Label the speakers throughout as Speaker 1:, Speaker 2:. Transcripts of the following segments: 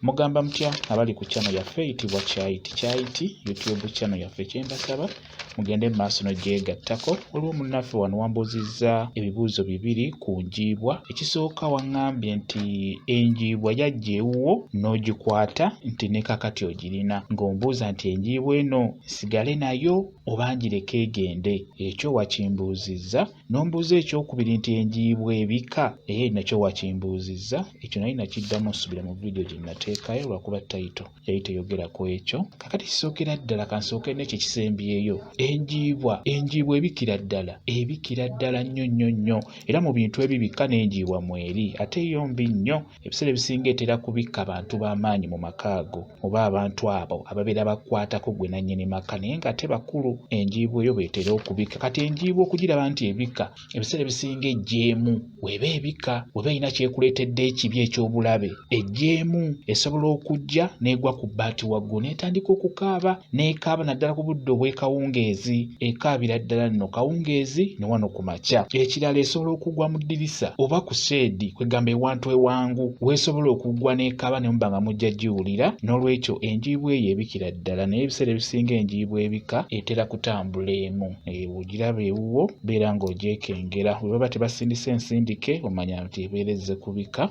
Speaker 1: Mugamba mutya abali ku channel yaffe eyitibwa Kyayiti Kyayiti YouTube channel yaffe kyembasaba mugende mu maaso n'ogyegattako waliwo munnaffe wano wambuuzizza ebibuuzo bibiri ku njiibwa ekisooka waŋŋambye nti enjiibwa yajja ewuwo n'ogikwata nti ne kakati ogirina ng'ombuuza nti enjiibwa eno nsigale nayo oba ngireke egende ekyo wakimbuuzizza nombuuza ekyokubiri nti enjiibwa ebika naye nakyo wakimbuuzizza ekyo naye nakiddamu osubira mu vidiyo gye nateekayo lwakuba tayito yali teyogera ku ekyo kakati kisookera ddala kansooke nekyo ekisembyeyo enjiibwa enjiibwa ebikira ddala ebikira ddala nnyo nnyo nnyo era mu bintu ebibikka n'enjiibwa mweri ate yo mbi nnyo ebiseera ebisinga etera kubikka bantu b'amaanyi mu maka ago oba abantu abo ababeera bakwatako gwe nannyini maka naye ng'ate bakulu enjiibwa eyo beetera okubikka kati enjiibwa okugiraba nti ebikka ebiseera ebisinga ejjeemu weba ebikka weba erina kyekuleetedde ekibi eky'obulabe ejjeemu esobola okujja n'egwa ku bbaati waggulu n'etandika okukaaba n'ekaaba naddala ku budde obw'ekawungeezi ekaabira ddala nno kawungeezi ne wano ku makya ekirala esobola okugwa mu ddirisa oba ku seedi kwegamba ewantu ewangu weesobola okugwa n'ekaaba ne muba nga mujja giwulira n'olwekyo enjiibwa eyo ebikira ddala naye ebiseera ebisinga enjiibwa ebika etera kutambula emu ogiraba ewuwo beera ng'ogyekengera bwe baba tebasindise ensindike omanya nti ebeera ezze kubika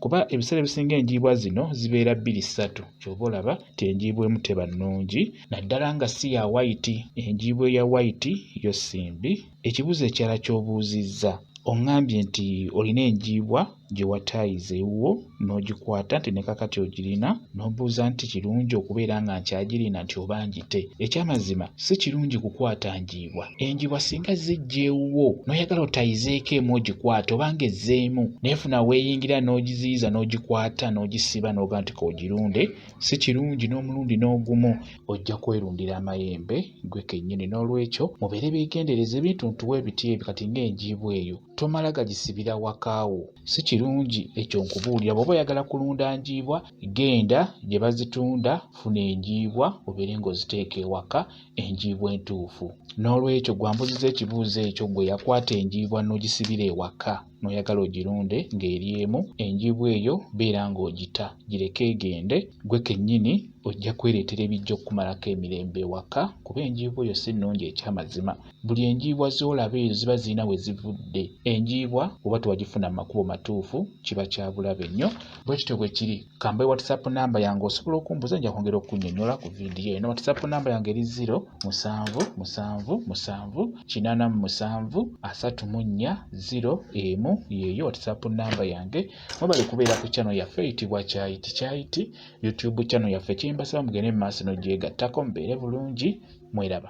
Speaker 1: kuba ebiseera ebisinga enjiibwa zino zibeera bbiri ssatu kyova olaba nti enjiibwa emu teba nnungi naddala nga si ya wayiti enjiibwa eya wayiti yo si mbi ekibuuzo ekirala ky'obuuzizza oŋŋambye nti olina enjiibwa gye wataayiza ewuwo n'ogikwata nti ne kakati ogirina n'ombuuza nti kirungi okubeera nga nkyagirina nti oba ngite ekyamazima si kirungi kukwata njiibwa enjiibwa singa zijja ewuwo n'oyagala otayizeeko emu ogikwata obanga ezzeemu neefuna weeyingira n'ogiziyiza n'ogikwata n'ogisiba n'oga nti koogirunde si kirungi n'omulundi n'ogumu ojja kwerundira amayembe gwe kennyini n'olwekyo mubeere beegendereza ebintu ntuwa ebiti ebyo kati ng'enjiibwa eyo tomala gagisibira wakaawo si kirungi ekyo nkubuulira bw'oba oyagala kulunda njiibwa genda gye bazitunda funa enjiibwa obeere ng'oziteeka ewaka enjiibwa entuufu n'olwekyo gwambuziza ekibuuzo ekyo gwe yakwata enjiibwa n'ogisibira ewaka n'oyagala ogirunde ng'eri emu enjiibwa eyo beera ng'ogita gireke egende gwe kennyini ojja kwereetera ebijja okukumalako emirembe ewaka kuba enjiibwa eyo si nnungi ekyamazima buli enjiibwa z'olaba ezo ziba zirina we zivudde enjiibwa oba tewagifuna mu makubo matuufu kiba kya bulabe nnyo bwe kityo bwe kiri kamba whatsapp namba yange osobola okumbuza nja kwongera okunyonyola ku vidiyo eno whatsapp namba yange eri 0 musanvu musanvu musanvu kinana mu musanvu asatu mu nnya 0 emu yeeyo whatsapp namba yange mwebale kubeera ku channel yaffe eyitibwa kyayiti kyayiti youtube channel yaffe kyembasaba mugende mu maaso nogyegattako mubeere bulungi mweraba